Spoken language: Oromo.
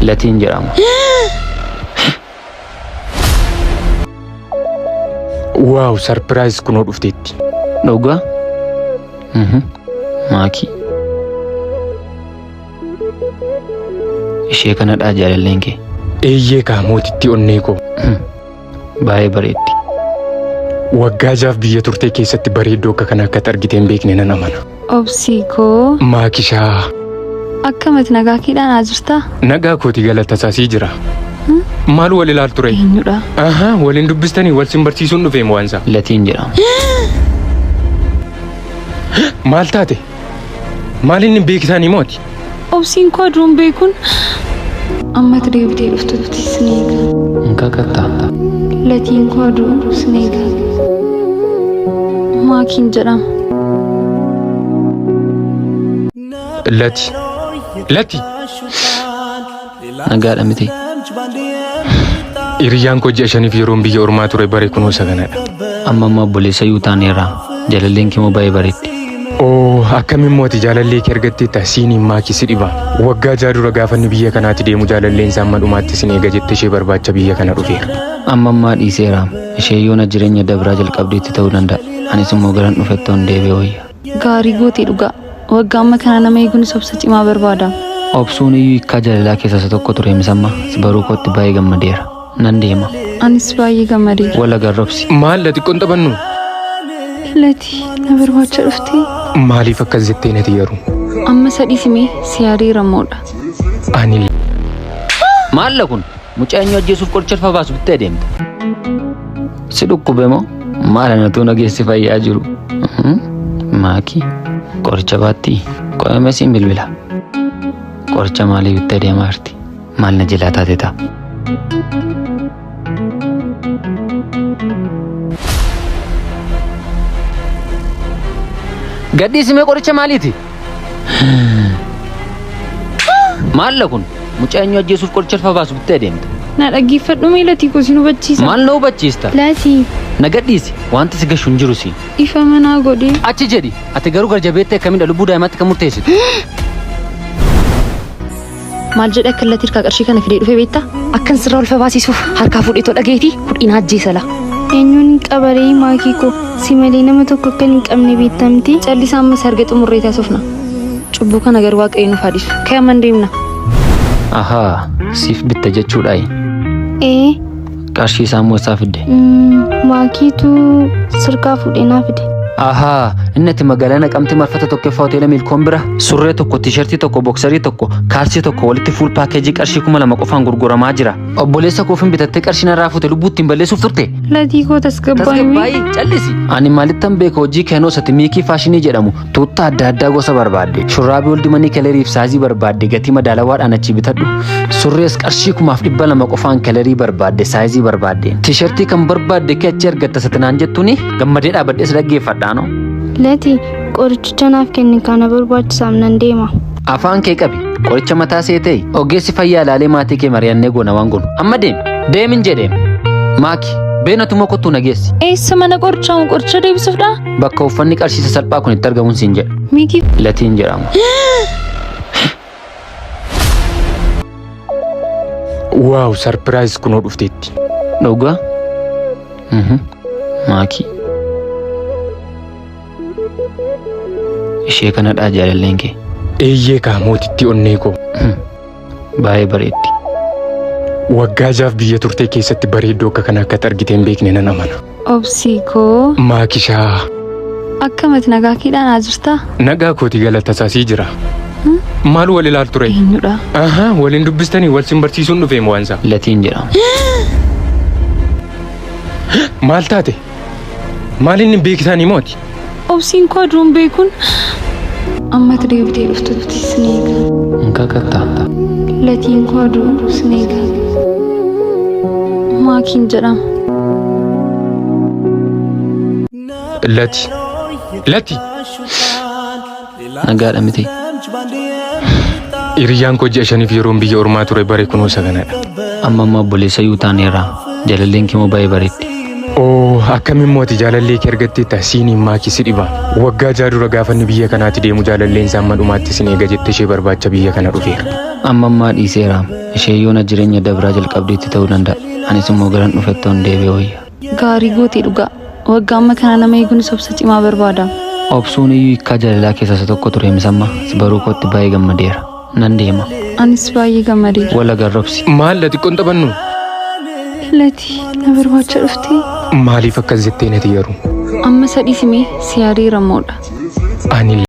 Latiin jedhama. Waaw sarpiraayiz kunoo dhufteetti. Dhugaa? Mhm. Maakii. Ishee kanadhaa jaalalleen kee. Eeyyee kaa mootittii onnee koo. Hmm. Baay'ee bareeddi. Waggaa jaaf biyya turtee keessatti bareedduu akka kana akkatti argitee hin beekne nan amana. Obsii koo Maakishaa. akkamati nagaa keedhaan haa jirtaa? Nagaa kooti galata isaa sii jira. Maal wal ilaal ture? Eenyudha? Ahaa waliin dubbistanii wal sin barsiisuun dhufeem waansa. Latiin jedhama. Maal taate? Maal inni beekisaanii mooti? Obsiin koo aduun beekun amma itti deebitee dhuftutti sin eega. Hin kakattaa? Latiin koo aduu sin eega. Maakiin jedhama. Lati. Lati. Nagaadha miti. Hiriyyaan koo ji'a shaniif yeroon biyya ormaa ture bare kunoo isa kanadha. Amma amma obboleessa yuu taaneerra. Jalalleen kee moo baay'ee bareeddi. Oo akkamiin mooti jaalallee kee argatteetta siiniin maakii si dhiba. Waggaa ja'a dura gaafanni biyya kanaatti deemu jaalalleen isaa amma dhumaatti sin eega jette ishee barbaacha biyya kana dhufeera. Amma ammaa dhiiseera. Ishee yoona jireenya dabraa jalqabdeetti ta'uu danda'a. Anis immoo garan dhufettoon deebi'e wayya. Gaarii gootee dhugaa. Waggaa amma kana nama eeguunis obsa cimaa barbaada. Obsuun iyyuu hiikkaa jaalalaa keessaa isa tokko ture misamma si baruu kootti baay'ee gammadeera. Nan deema. Anis baay'ee gammadeera. Wal agarra obsi. Maal la xiqqoon taphannu? Lati na barbaacha dhuftee? Maaliif akkas jettee nati yaru? Amma sadhiisimee si yaadeera moodha. Ani Maalla kun Mucaa eenyu ajjeesuuf qoricha ulfa baasu bittee adeemta. Si dhukkube moo maal anatu nageessi fayyaa jiru? Maakii qoricha baattii qoyame siin bilbila. Qoricha maalii bittee deemaa jirti? Maal na jilaa taate ta'a? Gadhiisimee qoricha maaliiti? Maalla kun mucaa eenyu ajjeesuuf qoricha alfa baasu bittee deemta. Na dhaggeeffadhu mee latii koo sin hubachiisa. Maal na hubachiista? Latii Na gadhiisi wanti si gashu hin jiru si. ifa manaa godhee. Achi jedhi ati garuu garjabeettee akkamidha lubbuu daa'imaatti kan murteessitu. Maal jedhe akka illatti hirkaa qarshii kana fidee dhufe beektaa? Akkan sirraa ulfa baasisuuf harkaa fuudhee too dhageetii hudhiin ajjeesala. Eenyuun hin qabaree maakii koo si malee nama tokko akka hin qabne beektamti. Callisaa ammas harga xumurree taasifna. Cubbuu kana garuu waaqayyo nuuf haa dhiisu. Ka'e amman deemna. Ahaa, siif bitta jechuudhaayi. Ee Qarshii isaa immoo isaa fidde. Maakiitu sirkaa fuudhee naa fide. Ahaa, inni ati magaalaa naqamtee marfata tokkoffaa hoteela Milkoon bira surree tokko, tiishartii tokko, boksarii tokko, kaalsii tokko walitti fuul paakeejii qarshii kuma lama qofaan gurguramaa jira. Obboleessa koofin bitattee qarshii narraa fuute lubbuu ittiin balleessuuf turte. Latii koo tasgabbaa'ii. Tasgabbaa'ii callisi. Ani maalittan beeka hojii keenoo isati miikii faashinii jedhamu Tuuttaa adda addaa gosa barbaadde, shurraabii oldi manii keleriif saayizii barbaadde gatii madaalawaadhaan achi bitadhu. Surrees qarshii kumaaf dhibba lama qofaan kelerii barbaadde saayizii barbaadde. Tiishartii kan barbaadde kee achi argatta satinaan jettuuni gammadee dhaabadhees dhaggeeffadhaano. Lati qorichicha naaf kenni kana barbaachisaaf nan deema. Afaan kee qabi qoricha mataa seetee ogeessi fayyaa ilaalee maatii kee mari'annee goona waan goonu. Amma deemi deemin jedhee maaki beenatuma kottuu nageessi. Eessa mana qorichaa qoricha deebisuufdha? Bakka uffanni qarshii sasalphaa kun itti argamuun siin jedha. Miikii Latiin jedhama. Waaw sarpiraayis kunoo dhufteetti. Dhugaa? Mhm. Maakii. Ishee kanadhaa jaalalleen kee. Eeyyee kaa mootittii onnee koo. Hmm. Baay'ee bareeddi. Waggaa jaaf biyya turtee keessatti bareedduu akka kana akkatti argitee hin beekne nan amana. Obsii koo Maakishaa. akkamati nagaa keedhaan haa jirtaa? Nagaa kooti galata isaa sii jira. Maal wal ilaal ture? Eenyudha? Ahaa waliin dubbistanii wal sin barsiisuun dhufeem waansa. Latiin jedhama. Maal taate? Maaliin hin beekisaanii mooti? Obsiin koo aduun beekuun amma itti deebitee dhuftutti sin eega. Hin kakattaa. Latiin koo aduun sin eega. Maakiin jedhama. Lati. Lati. Nagaadha miti. Hiriyyaan koo ji'a shaniif yeroon biyya ormaa ture bare kunoo isa kanadha. Amma amma obboleessa yoo taaneerra. Jalalleen kee moo baay'ee bareeddi. Oo akkamiin mooti jaalallee kee argattee ta'a siiniin maakii si dhiba. Waggaa ja'a dura gaafanni biyya kanaatti deemu jaalalleen isaa amma dhumaatti sin eega jette ishee barbaacha biyya kana dhufeera. Amma ammaa dhiiseera. Ishee yoona jireenya dabraa jalqabdeetti ta'uu danda'a. Anis immoo garan dhufettoon deebi'e wayya. Gaarii goote dhugaa. Waggaa amma kana nama eeguunis obsa cimaa barbaada. Obsuun iyyuu hiikkaa jaalalaa keessaa isa tokko ture misamma si baruu kootti baay'ee gammadeera. Nan deema. Anis baay'ee gammadeera. Wal agarra obsi. Maal la xiqqoon taphannu? Lati na barbaacha dhuftee? Maaliif akkas jettee nati garuu? Amma sadhii simee si yaadeera moodha. Ani